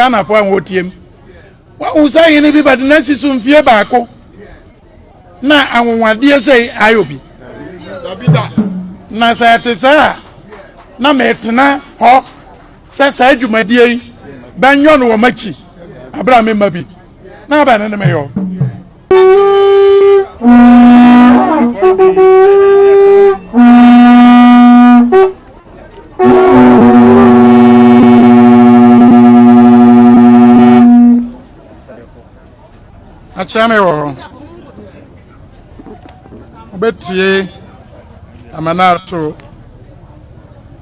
Ghanafo a wɔretie me, wɔahu sɛ hene bi bɛde no asi so mfie baako na anwonwadeɛ sei ayɛ obi. Na sɛ ɛte saa a, na metena hɔ sɛ saa dwumadie yi bɛnyɔ no wɔ m'akyi berɛ a memma bi. Na bɛne ne meyɔ. akyerɛ me wɔ hɔ wobɛtie amana ato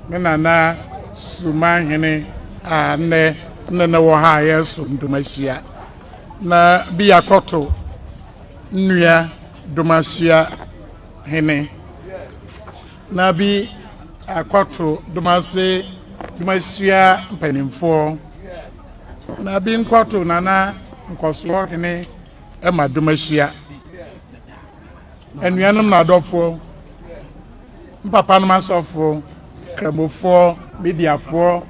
me nana suman hene a nnɛ nnɛ na wɔ ha a yɛsom dom ahyia na bia kɔto nnua domasua hene na bi akɔto domase domasua mpanimfoɔ na bi nkɔto nana nkɔsoɔ hene ma domasua anuanom na adɔfoɔ mpapa nom asɔfoɔ kramofoɔ mediafoɔ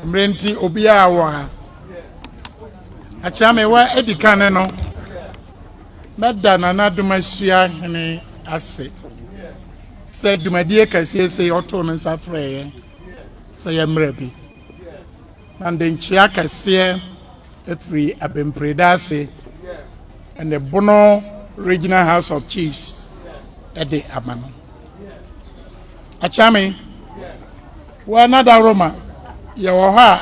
mmerɛ nti obiara wɔ ha Akyea me wa edi kan no, mɛda Nana Adomasua Hene ase sɛ dwumadie kɛseɛ sɛ ɔtoo no nsa frɛeɛ sɛ yɛmmerɛ bi. Na de nkyea kɛseɛ ɛfiri Abempreda ase ɛne Bono Regional House of Chiefs ɛde ama no. Akyea me, wa Nada Roma, yɛwɔ hɔ a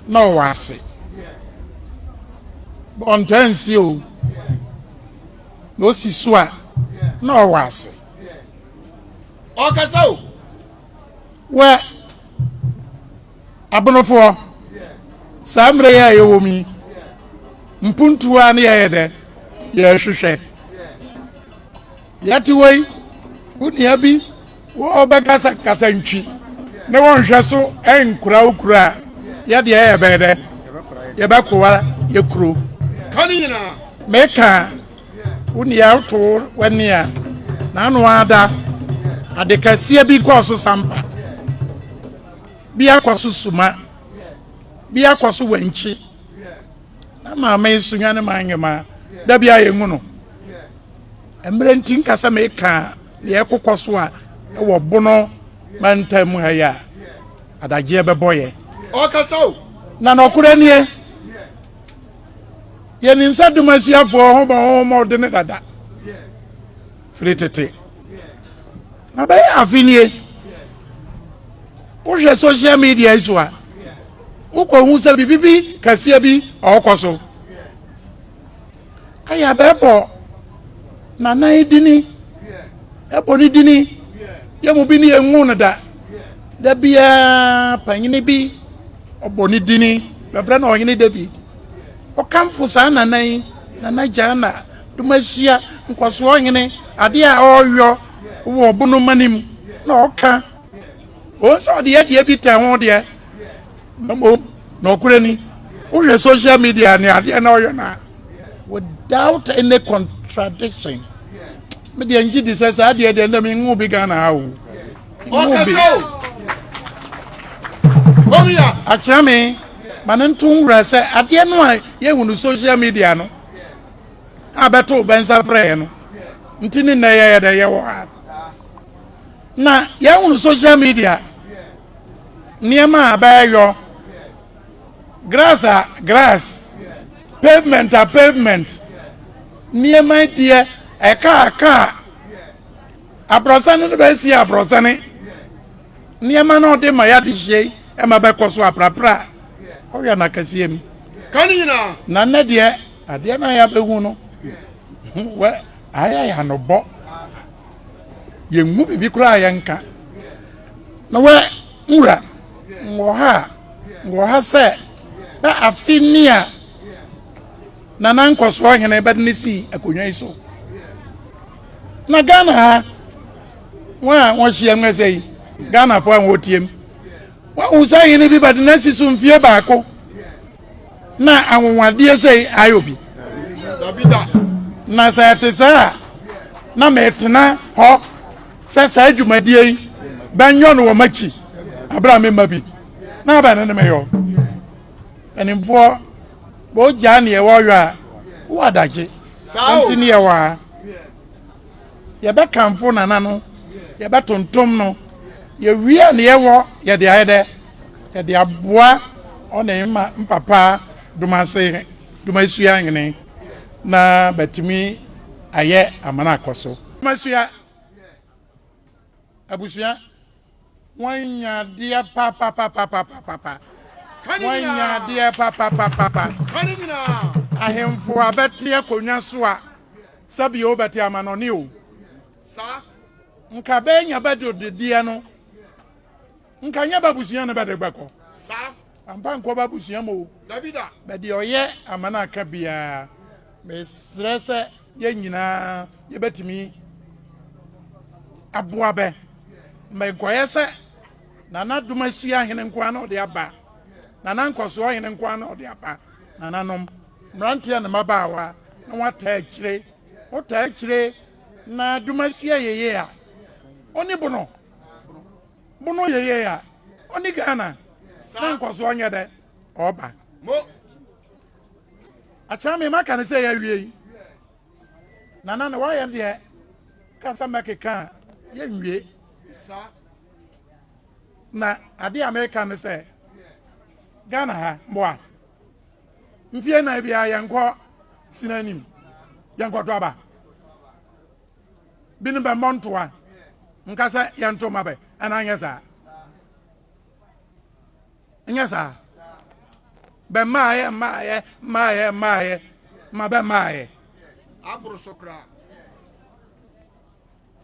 na ɔwɔ ase bɔ ntaa nsi o na osi so a na ɔwɔ ase ɔkasa o wɛ abonofoɔ saa mmerɛ yɛ a yɛwɔ mu yi mpuntuwa ne yɛyɛ dɛ yɛhwehwɛ yɛte wɔ yi wo nua bi Wɔbɛkasa kasa ntwi ne wɔn nhwɛ so nkura wo kuro a, yɛ deɛ yɛ bɛyɛ dɛn, yɛ bɛ kowa yɛ kuro. Ka ne nyinaa. Me ka wo nea wo to wo ani a, na ano ara da, ade kɛseɛ bi kɔɔ so sampa, bi akɔ so suma, bi akɔ so wɛnkyi, na maame yi so hwane ma anwema, da bi a yɛ nhu no. Mmerɛ nti nka sɛ meka deɛ ɛrekokɔ so a ɛwɔ Bono mantam mu ha yi a, adagyeɛ bɛbɔ yɛ. Ɔkasa o. Na nɔkorɛ nie, yɛnim sɛ Dumasiafoɔ ho bɔ ho mmɔdene dada firi tete. Na bɛyɛ afe nie, wohwɛ social media yi so a, wokɔhu sɛ biribi kɛseɛ bi ɔrekɔ so. Aya bɛbɔ Nanai dini, ɛbɔ ne dini, yɛn mu bi ne yɛnhu no da. Da biara panyini bi ɔbɔ ne dini, bɛfrɛ no Ɔhene David. Ɔkamfo saa Nana yi, Nana Gyana, Domasia, Nkɔsoɔhene, adeɛ a ɔreyɔ wɔ ɔbo no ma no mu na ɔka. Ɔhu sɛ ɔde adeɛ bi tɛ ho deɛ, Na mmom, nɔkorɛ ni, wohwɛ social media ne adeɛ na ɔyɛ no a, without any contradiction, me deɛ ngye di sɛ saa adeɛ deɛ ndɛ menwo bi Ghana ha o. Ɔkasa o. Omia. Akyerɛ me, ma ne nto nwura sɛ adeɛ no a yɛhu no social media no a bɛto bɛnsa frɛɛ no nti ne nnɛ yɛyɛ dɛ yɛwɔ ha na yɛhu no social media nneɛma a bɛɛyɔ grass a grass pavement a pavement nneɛma deɛ ɛka a car abrɔsane no bɛɛ sie abrɔsane nneɛma no ɔde ma yɛade hyɛ yi ɛma bɛkɔ so aprapra ɔyɛ na kɛseɛ mi ka ne nyinaa na nnɛ deɛ adeɛ no a yɛabɛhu no wɛ ayɛ yɛ anobɔ. yɛnhu biribi koraa a yɛnka. Na wɛ nwura wɔ ha a, wɔ ha sɛ na afe ni a Nana Nkɔsoɔ Hene bɛde ne sii akonnwa yi so. Na Ghana ha, wɔn a wɔhyia mu sɛ yi, Ghanafoɔ a wɔtiem, wɔahu sɛ hene bi bɛde no asi so mfie baako. Na anwonwadeɛ sɛi ayɛ obi? Dabida! Na sɛ ɛte saa a, na metena hɔ sɛ saa dwumadie yi bɛnyɔ no wɔ m'akyi berɛ a me mma bi, na abɛn no ne me yɔ. Mpanimfoɔ, wɔgyaa neɛ wɔyɔ a, wowɔ adagye. Enti ne yɛwɔ ha. Yɛbɛkamfo Nana no, yɛbɛtontom no, yɛwie a ne yɛwɔ yɛde ayɛ dɛ. Ɛde aboa ɔne ma mpapa dom ase dom asua nwene na bɛatumi ayɛ amana akɔ so. Dom asua abusua wɔanya adeɛ papapapapapapa wɔanya adeɛ papapapapa ahemfo a bɛte akonnwa so a sɛbio wobɛte amanɔne o saa nka bɛanya bɛde odedeɛ no Nka nyɛ b'abusua na bɛde bɛkɔ. Saa. Ampa nkɔ b'abusua mu o. Dabi da. Bɛdeɛ ɔyɛ ama no aka biaa mesrɛ sɛ yɛn nyinaa yɛbɛtumi aboa bɛ ma nkɔyɛ sɛ Nana Domasua hene nkoa na ɔde aba Nana Nkɔsoɔ hene nkoa na ɔde aba Nananom mmeranteɛ ne mmabaawa na wɔn ataa akyire mo taa akyire na Domasua yeye a ɔni bono Mo no yɛ yɛ a ɔne Ghana na nkɔsoɔ nyɛ dɛ ɔba. Mo akyɛ me maka ne sɛ yɛawie yi. Nana na wayɛ deɛ kasa mɛkeka a yɛnwie. Na adeɛ a meka ne sɛ Ghana ha mmoa mfie nan biara yɛnkɔ sini anim yɛnkɔto aba. Binom bɛ mmɔ ntoa nka sɛ yɛn to mma bɛ, ɛna nyɛ saa. Nyɛ saa. Bɛ mmaeɛ, mmaeɛ, mmaeɛ, mmaeɛ, ma bɛ mmaeɛ. Aboro so koraa.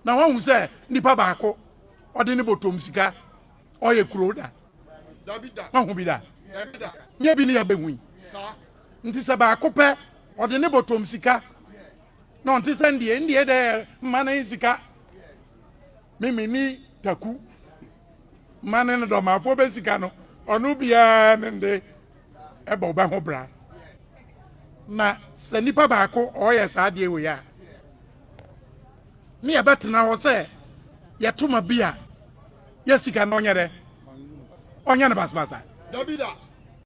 Na wɔahu sɛ nipa baako ɔde ne bɔtɔm sika ɔyɛ kuro da. Dabi da. Wɔahu bi da. Dabi da. Nyɛ bi ne yɛbɛhu yi. Saa. Nti sɛ baako pɛ ɔde ne bɔtɔm sika. na ɔnte sɛ ndeɛ ndeɛ dɛ mma ne sika me me ni taku ma ne no dɔmafoɔ bɛ sika no ɔno biara ne nde ɛbɔ ɔbɛ ho bra na sɛ nipa baako ɔyɛ saa adeɛ wei a ne yɛbɛtena hɔ sɛ yɛtoma bi a yɛ sika no ɔnyɛ dɛ ɔnyɛ no basabasa dabida